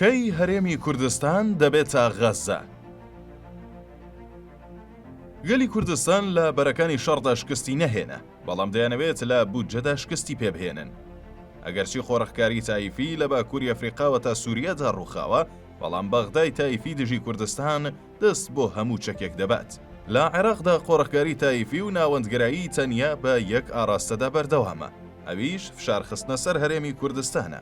کەی هەرێمی کوردستان دەبێتە غەززە؟ گەلی کوردستان لە بەرەکانی شەڕدا شکستی نەهێنا، بەڵام دەیانەوێت لە بودجەدا شکستی پێبهێنن. ئەگەرچی قۆرخکاری تایفی لە باکووری ئەفریقاوە تا سووریادا ڕووخاوە، بەڵام بەغدای تایفی دژی کوردستان دەست بۆ هەموو چەکێک دەبات. لە عێراقدا قۆرخکاری تایفی و ناوەندگەرایی تەنیا بە یەک ئاراستەدا بەردەوامە، ئەویش فشارخستنە سەر هەرێمی کوردستانە.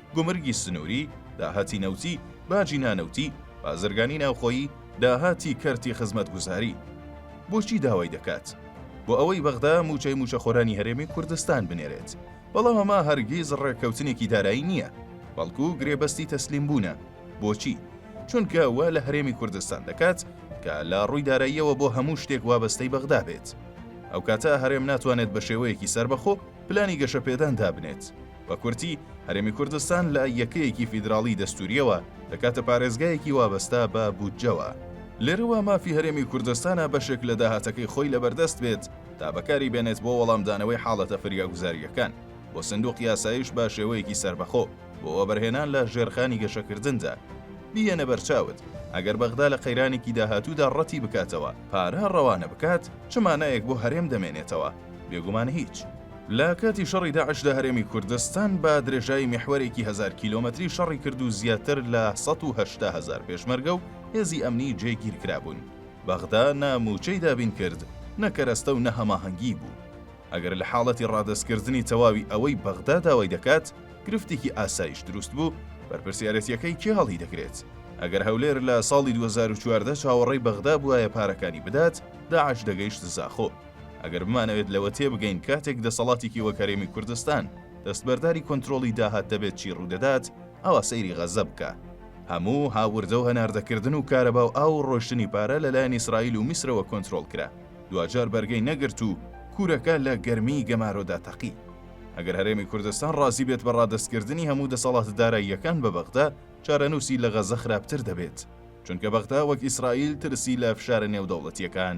گومرگی سنووری، داهاتی نەوتی، باجی نانەوتی، بازرگانی ناوخۆیی، داهاتی کەرتی خزمەتگوزاری. بۆچی داوای دەکات؟ بۆ ئەوەی بەغدا مووچەی مووچەخۆرانی هەرێمی کوردستان بنێرێت. بەڵام ئەمە هەرگیز ڕێککەوتنێکی دارایی نییە، بەڵکو گرێبەستی تەسلیمبوونە. بۆچی؟ چونکە وا لە هەرێمی کوردستان دەکات کە لە ڕووی داراییەوە بۆ هەموو شتێک وابەستەی بەغدا بێت. ئەو کاتە هەرێم ناتوانێت بە شێوەیەکی سەربەخۆ پلانی گەشەپێدان دابنێت. بە کورتی، هەرێمی کوردستان لە یەکەیەکی فیدراڵی دەستوورییەوە، دەکاتە پارێزگایەکی وابەستە بە بودجەوە. لێرەوە مافی هەرێمی کوردستانە بەشێک لە داهاتەکەی خۆی لەبەردەست بێت تا بەکاری بێنێت بۆ وەڵامدانەوەی حاڵەتە فریاگوزارییەکان، بۆ سندوقی ئاسایش بە شێوەیەکی سەربەخۆ، بۆ وەبەرهێنان لە ژێرخانی گەشەکردندا. بیهێنە بەرچاوت، ئەگەر بەغدا لە قەیرانێکی داهاتوودا ڕەتی بکاتەوە پارە ڕەوانە بکات، چ مانایەک بۆ هەرێم دەمێنێتەوە؟ بێگومان هیچ. لە کاتی شەڕی داعشدا هەرێمی کوردستان بە درێژایی میحوەرێکی هەزار کیلۆمەتری شەڕی کرد و زیاتر لە سەد و هەشتا هەزار پێشمەرگە و هێزی ئەمنی جێگیر کرابوون. بەغدا نە مووچەی دابین کرد، نە کەرەستە و نە هەماهەنگیی بوو. ئەگەر لە حاڵەتی ڕادەستکردنی تەواوی ئەوەی بەغدا داوای دەکات، گرفتێکی ئاسایش دروست بوو، بەرپرسیارێتییەکەی کێ هەڵیدەگرێت؟ ئەگەر هەولێر لە ساڵی دوو هەزار و چواردە چاوەڕێی بەغدا بووایە پارەکانی بدات، داعش دەگەیشت زاخۆ. ئەگەر بمانەوێت لەوە تێبگەین کاتێک دەسەڵاتێکی وەک هەرێمی کوردستان دەستبەرداری کۆنترۆڵی داهات دەبێت چی ڕوودەدات، ئەوا سەیری غەززە بکە. هەموو هاوردە و هەناردەکردن و کارەبا و ئاو و ڕۆشتنی پارە لەلایەن ئیسرائیل و میسرەوە کۆنترۆڵ کرا، دواجار بەرگەی نەگرت و کورەکە لە گەرمیی گەمارۆدا تەقی. ئەگەر هەرێمی کوردستان ڕازی بێت بە ڕادەستکردنی هەموو دەسەڵاتە داراییەکان بە بەغدا، چارەنووسی لە غەززە خراپتر دەبێت، چونکە بەغدا وەک ئیسرائیل ترسی لە فشارە نێودەوڵەتییەکان